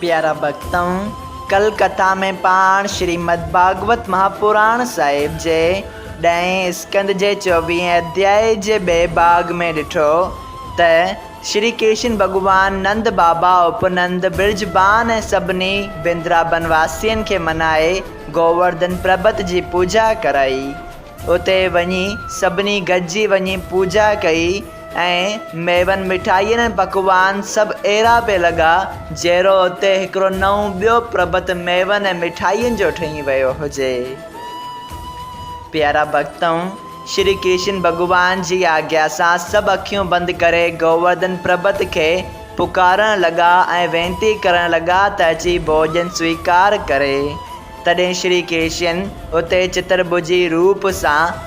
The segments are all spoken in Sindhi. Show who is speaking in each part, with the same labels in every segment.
Speaker 1: پيارا ڀڳتؤ! ڪل ڪٿا ۾ پاڻ شريمد ڀاڳوت مهاپراڻ صاحب جي ڏهين اسڪند جي چوويهين اڌياء جي ٻئي ڀاڳ ۾ ڏٺو ته شري ڪرشن ڀڳوان نند بابا اپنند برج بان ۽ سڀني بندرابن واسين کي منائي گوورڌن پربت جي پوڄا ڪرائي. اتي وڃي سڀني گڏجي وڃي پوڄا ڪئي. ۽ ميون مٺائين ۽ پڪوان سڀ اهڙا پئي لڳا جهڙو اتي هڪڙو نئون ٻيو پربت ميون ۽ مٺائين جو ٺهي ويو هجي. پيارا ڀڳتؤن! شري ڪرشن ڀڳوان جي آگيا سان سڀ اکيون بند ڪري گوورڌن پربت کي پڪارڻ لڳا ۽ وينتي ڪرڻ لڳا ته اچي ڀوڄن سويڪار ڪري. تڏهن شري ڪرشن اتي چترڀجي روپ سان.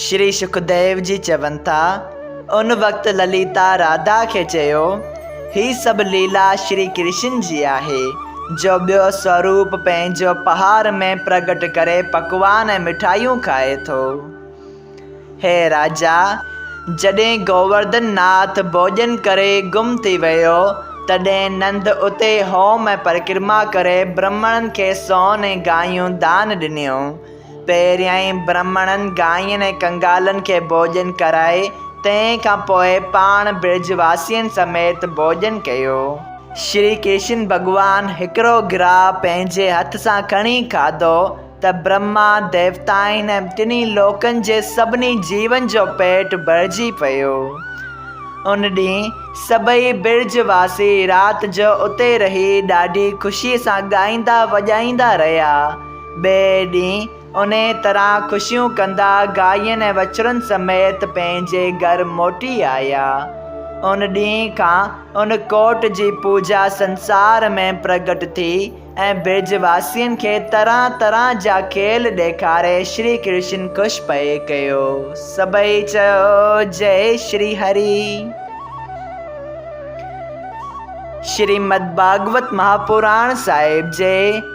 Speaker 1: شري شڪديو جي چون ٿا، ان وقت لليتا راڌا کي چيو، هي سڀ ليلا شري ڪرشن جي آهي، جو ٻيو سوروپ پنهنجو پهار ۾ پرڳٽ ڪري پڪوان ۽ مٺايون کائي ٿو. هي راجا، جڏهن گوورڌن ناٿ ڀوڄن ڪري گم ٿي ويو، تڏهن نند اتي هوم ۽ پرڪرما ڪري برهمڻن کي سون ۽ گايون دان ڏنيون. پهريائين برهمڻن گاين ۽ ڪنگالن کي ڀوڄن ڪرائي، تنهن کان پوء پاڻ برج واسين سميت ڀوڄن ڪيو. شري ڪرشن ڀڳوان هڪڙو گراء پنهنجي هٿ سان کڻي کاڌو ته برهما، ديوتائن ۽ ٽنهي لوڪن جي سڀني جيون جو پيٽ ڀرجي پيو. ان ڏينهن سڀئي برج واسي رات جو اتي رهي ڏاڍي خوشي سان ڳائيندا وڄائيندا رهيا. ٻئي ڏينهن انهيء طرح خوشيون ڪندا گائين ۽ وڇڙن سميت پنهنجي گهر موٽي آيا. ان ڏينهن کان ان ڪوٽ جي پوڄا سنسار ۾ پرگٽ ٿي ۽ برج واسين کي طرح طرح جا کيل ڏيکاري شري ڪرشن خوش پئي ڪيو. سڀئي چيو جئي شري هري. شريمد ڀاڳوت مهاپراڻ صاحب جي.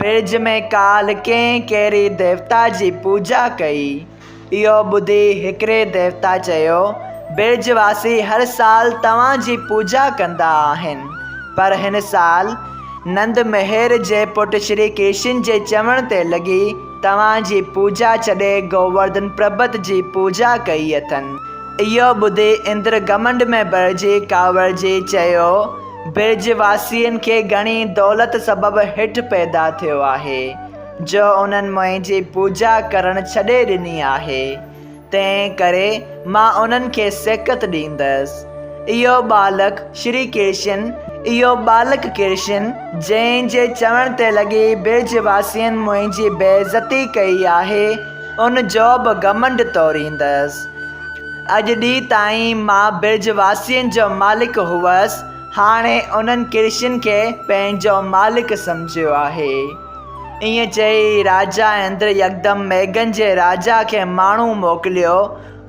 Speaker 1: برج ۾ ڪالهه ڪنهن ڪهڙي ديوتا جي پوڄا ڪئي؟ اهو ٻڌي هڪڙي ديوتا چيو، برج واسي هر سال توهان جي پوڄا ڪندا آهن، پر هن سال نند مهر جي پٽ شري ڪرشن جي چوڻ تي لڳي توهان جي پوڄا ڇڏي گوورڌن پربت جي پوڄا ڪئي اٿن. اهو ٻڌي اندر گهمنڊ ۾ ڀرجي ڪاوڙجي چيو، برج واسين کي گهڻي دولت سبب هٺ پيدا ٿيو آهي جو انهن منهنجي پوڄا ڪرڻ ڇڏي ڏني آهي، تنهن ڪري مان انهن کي سيڪت ڏيندس. اهو ٻالڪ شري ڪرشن، اهو ٻالڪ ڪرشن، جنهن جي چوڻ تي لڳي برج واسين منهنجي بي عزتي ڪئي آهي، ان جو به گهمنڊ توريندس. اڄ ڏينهن تائين مان برج واسين جو مالڪ هئس، هاڻي انهن ڪرشن کي پنهنجو مالڪ سمجهيو آهي. ائين چئي راجا اندر يڪدم ميگهن جي راجا کي ماڻهو موڪليو.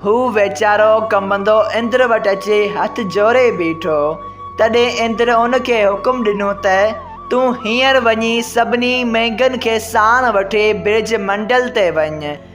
Speaker 1: هو ويچارو ڪنبندو اندر وٽ اچي هٿ جوڙي بيٺو. تڏهن اندر ان کي حڪم ڏنو ته، تون هينئر وڃي سڀني ميگهن کي ساڻ وٺي برج منڊل تي وڃ.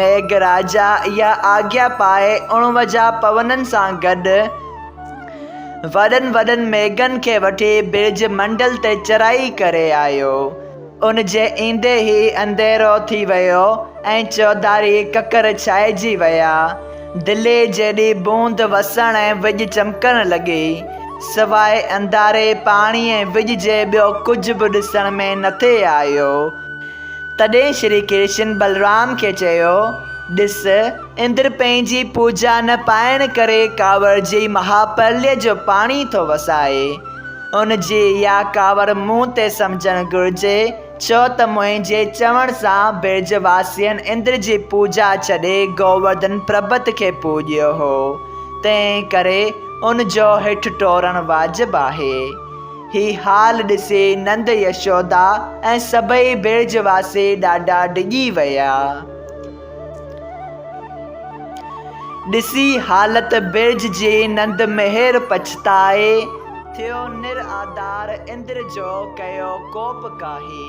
Speaker 1: ميگھ راجا اها آگيا پائي اڻوجها پونن سان گڏ وڏن وڏن ميگھن کي وٺي برج منڊل تي چڙهائي ڪري آيو. ان جي ايندي ئي انڌيرو ٿي ويو ۽ چوڌاري ڪڪر ڇائجي ويا. دلي جيڏي بوند وسڻ ۽ وڄ چمڪڻ لڳي. سواء انڌاري، پاڻي ۽ وڄ جي ٻيو ڪجهه به ڏسڻ ۾ نٿي آيو. تڏهن شري ڪرشن بلرام کي چيو، ڏس، اندر پنهنجي پوڄا نه پائڻ ڪري ڪاوڙ جي مهاپرليه جو پاڻي ٿو وسائي. ان جي اها ڪاوڙ مون تي سمجهڻ گهرجي، ڇو ته منهنجي چوڻ سان برج واسين اندر جي پوڄا ڇڏي گوورڌن پربت کي پوڄيو هو، تنهن ڪري ان جو هٺ ٽورڻ واجب آهي. هي حال ڏسي نند يشودا ۽ سڀئي برج واسي ڏاڍا ڊڄي ويا. ڏسي حالت برج جي نند مهر پڇتائي ٿيو نر آڌار اندر جو ڪيو ڪوپ ڪاهي.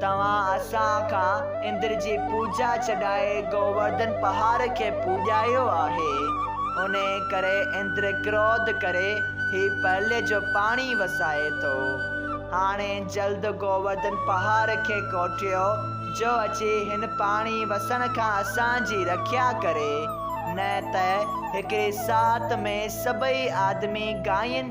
Speaker 1: توهان اسان کان اندر جي پوڄا ڇڏائي گوورڌن پهاڙ کي پوڄايو آهي، انهيء ڪري اندر ڪروڌ ڪري هي پرلي جو پاڻي وسائي ٿو. هاڻي جلد گوورڌن پهاڙ کي ڪوٺيو، جو اچي هن پاڻي وسڻ کان اسان جي رکيا ڪري، نه ته هڪڙي ساعت ۾ سڀئي آدمي گاين